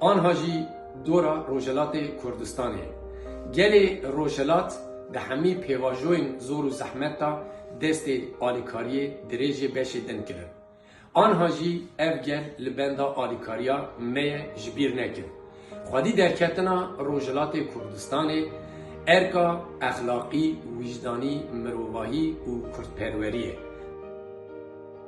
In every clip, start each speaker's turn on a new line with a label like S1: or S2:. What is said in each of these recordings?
S1: anha jî dora Rojhelatê Kurdistanê. Gelê Rojhelat di hemî pêvajoyên zor û zehmet da destê alîkariyê dirêjê beşê din kirin. Anha jî ev gel li benda alîkariya me ye ji bîr nekin. Xwedî derketina Rojhelatê Kurdistanê erka exlaqî, wîjdanî, mirovahî û kurdperwerî ye.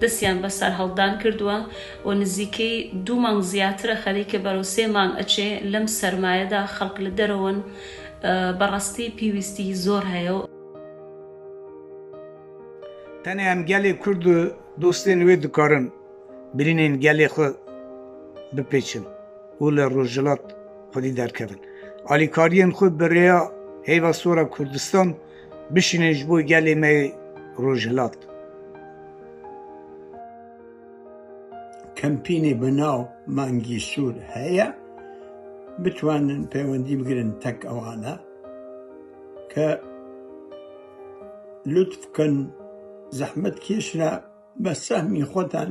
S1: Destyan berserhildan krdwe û nizîkî du mang ziyatir e xerîke bero sê mang eçê lem sermaye da xelk li derewin be rastî pîwîstî zor heye. Tenê em gelê kurd û dostên wê dikarin birînên gelê xwe bipêçin û li rojhilat xwedî derkevin. Alîkariyên xwe bi rêya heyva sor a kurdistan, Bişînin ji bo gelê me yê Rojhilat. Kempînê bi nav Mangî Sûr heye, bitwanin pêwendî bigirin tek ewana ke lutf bikin zehmet kêşra be sehmî xwe dan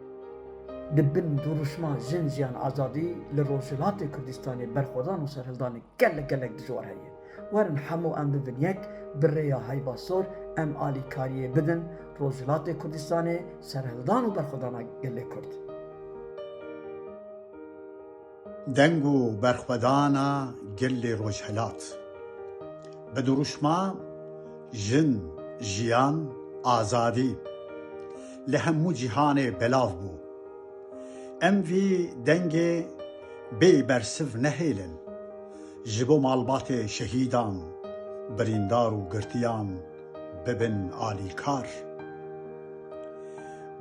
S1: Di bin dirûşma Jin Jiyan Azadî li Rojhilatê Kurdistanê berxwedan û serhildanê gelek gelek dijwar heye. Werin hemû em bi bin yek bi rêya heyba sor em alîkariyê bidin Rojhilatê Kurdistanê, serhildan û berxwedana gelê Kurd. Deng û berxwedana gel li Rojhilat. Bi dirûşma Jin, Jiyan, Azadî li hemû cîhanê belav bû. Em vî dengê bê bersiv nehêlin ji bo malbatê şehîdan, birîndar û girtiyan bibin alîkar.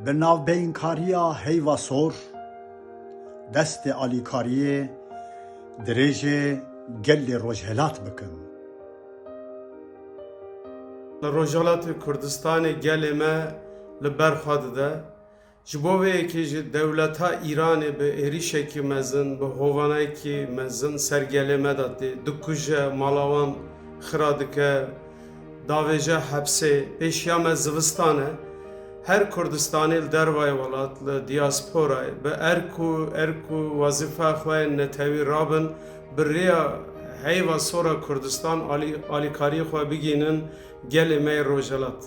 S1: Bi navbeynkariya Heyva Sor Destê alîkariyê dirêjê gelê Rojhelat bikin. Li Rojhelatê Kurdistanê gelê me li ber xwe dide. Ji bo vê yekê jî dewleta Îranê bi êrîşekî mezin, bi hovanayekî mezin ser gelê me de tê dikuje, mala wan xira dike. Davêje hepsê pêşiya me zivistan e. Her Kurdistanê li dervayê welat, li diasporayê bi erk û erk û wezîfeya xwe yên netewî rabin, bi rêya heyva sora Kurdistan alî alîkariyê xwe bigihînin gelê me yê Rojhelat.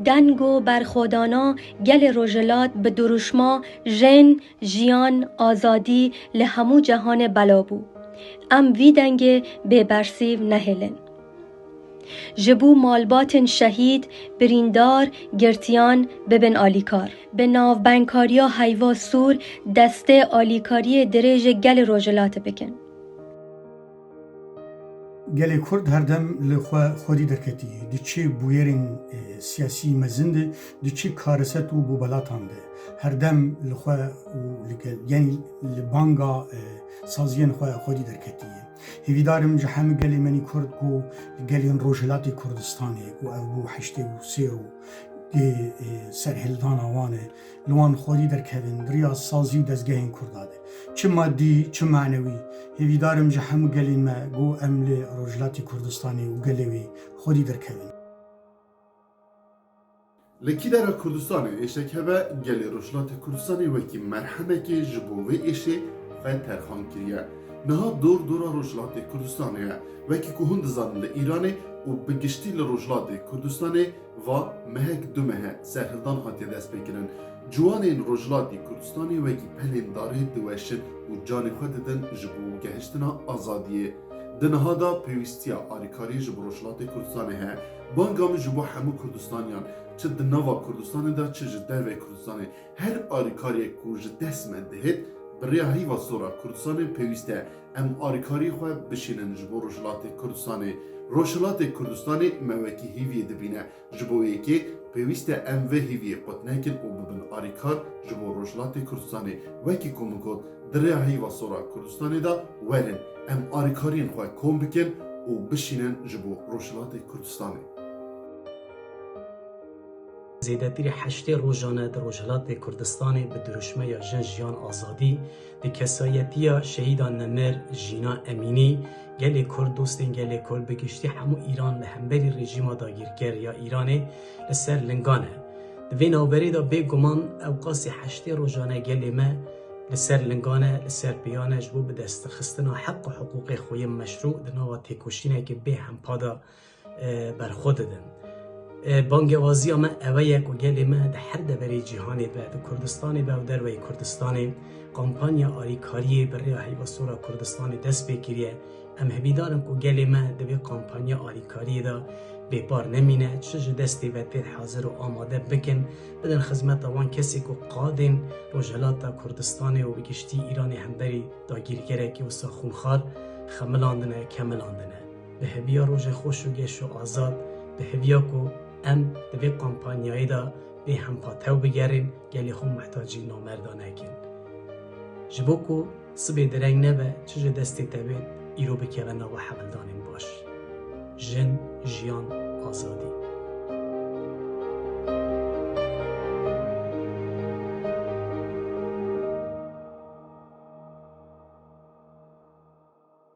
S1: Deng û berxwedana gelê Rojhelat bi dirûşma Jin, Jiyan, azadî li hemû cehanê belav bû. Em vî dengê bêbersîv nehêlin. Ji bo malbatên şehîd, birîndar, girtiyan bibin alîkar. Bi navbengkariya Heyva Sûr destê alîkariyê dirêjê gelê Rojhilatê bikin. Gelê Kurd her dem li xwe xwerî derketî di çi bûyerên siyasî mezin de, di çi kariset û bûbelatan de her dem li xwe û yanî li banga saziyên xwe xwerî derketî ye. Hêvîdar im ji hemû gelê menî Kurd ku li gelên Rojhilatê Kurdistanê ku ev bû heştê û sê rû dê serhildana wan e, Li wan xwedî derkevin di riya sazî û dezgehên Kurda de. Çi madî, çi manewî. Hêvîdar im ji hemû gelên me ku em li Rojhilatê Kurdistanê û gelê wê xwedî derkevin. Li kîdara Kurdistanê êşek hebe, gelê Rojhilatê Kurdistanê wekî merhemekê ji bo vê êşê xwe terxan kiriye. Niha dor dora Rojhilatê Kurdistanê ye. Wekî ku hûn dizanin li Îranê û bi giştî li Rojhilatê Kurdistanê, Va, Mehek du mehe serhildan hatiye destpêkirin. Ciwanên Rojhilatî Kurdistanê wekî pelên darê diweşin û canê xwe didin ji bo gehiştina azadiyê. Di niha de pêwîstiya alîkarî ji bo Rojhilatê Kurdistanê heye. Banga min ji bo hemû Kurdistaniyan, çi di nava Kurdistanê de çi ji derveyî Kurdistanê, her alîkariyek ku ji dest me dihêt, bi rêya heyva sor a Kurdistanê pêwîst e. Em alîkarî xwe bişînin ji bo Rojhilatê Kurdistanê. Rojhilatê Kurdistanê me wekî hîviyê dibîne. Ji bo yekê pêwîst e em vê hîviyê qut nekin û bibin alîkar ji bo Rojhilatê Kurdistanê. Wekî ku min got, di rêya heyva sora Kurdistanê de werin em alîkariyên xwe kom bikin û bişînin ji bo Rojhilatê Kurdistanê. Zêdetirî heştê rojane di Rojhilatê Kurdistanê bi dirûşmeya Jin Jiyan Azadî di kesayetiya Şehîda Nemir Jîna Emînî gelê Kurd, dostên gelê Kurd bi giştî hemû Îran li hemberî rejîma dagîrker ya Îranê li ser lingan e. Di vê navberê de bê guman ewqasî heştê rojane gelê me li ser lingan e, li ser pêyan e ji bo bidestxistina heq û hiqûqê xwe yên meşrû di nava têkoşîneke bê hempa de berxwe didin. Bangewaziya me ewe ye ku gelê me di her deverê cîhanê be, di Kurdistanê be û derweyî Kurdistanê kampanya alîkariyê bi rêya Heyva Sora Kurdistanê dest pê kiriye. Em hevîdar in ku gelê me di vê kampanya alîkariyê de bêpar nemîne, çi ji destê ve tê hezir û amade bikin, bidin xizmeta wan kesên ku qadên Rojhilata Kurdistanê û bi giştî Îranê hemberî dagîrkerekî wisa xûnxar xemilandine, kemilandine. Bi heviya rojê xweş û geş û azad, bi heviya ku em di vê kampanyayê de bê hempa tew bigerên, gelê xwe mihtacî namerda nekin. Ji bo ku sibê direng nebe, çi ji destê te bê îro bikeve nava hevildanên baş. Jin, jiyan, azadî.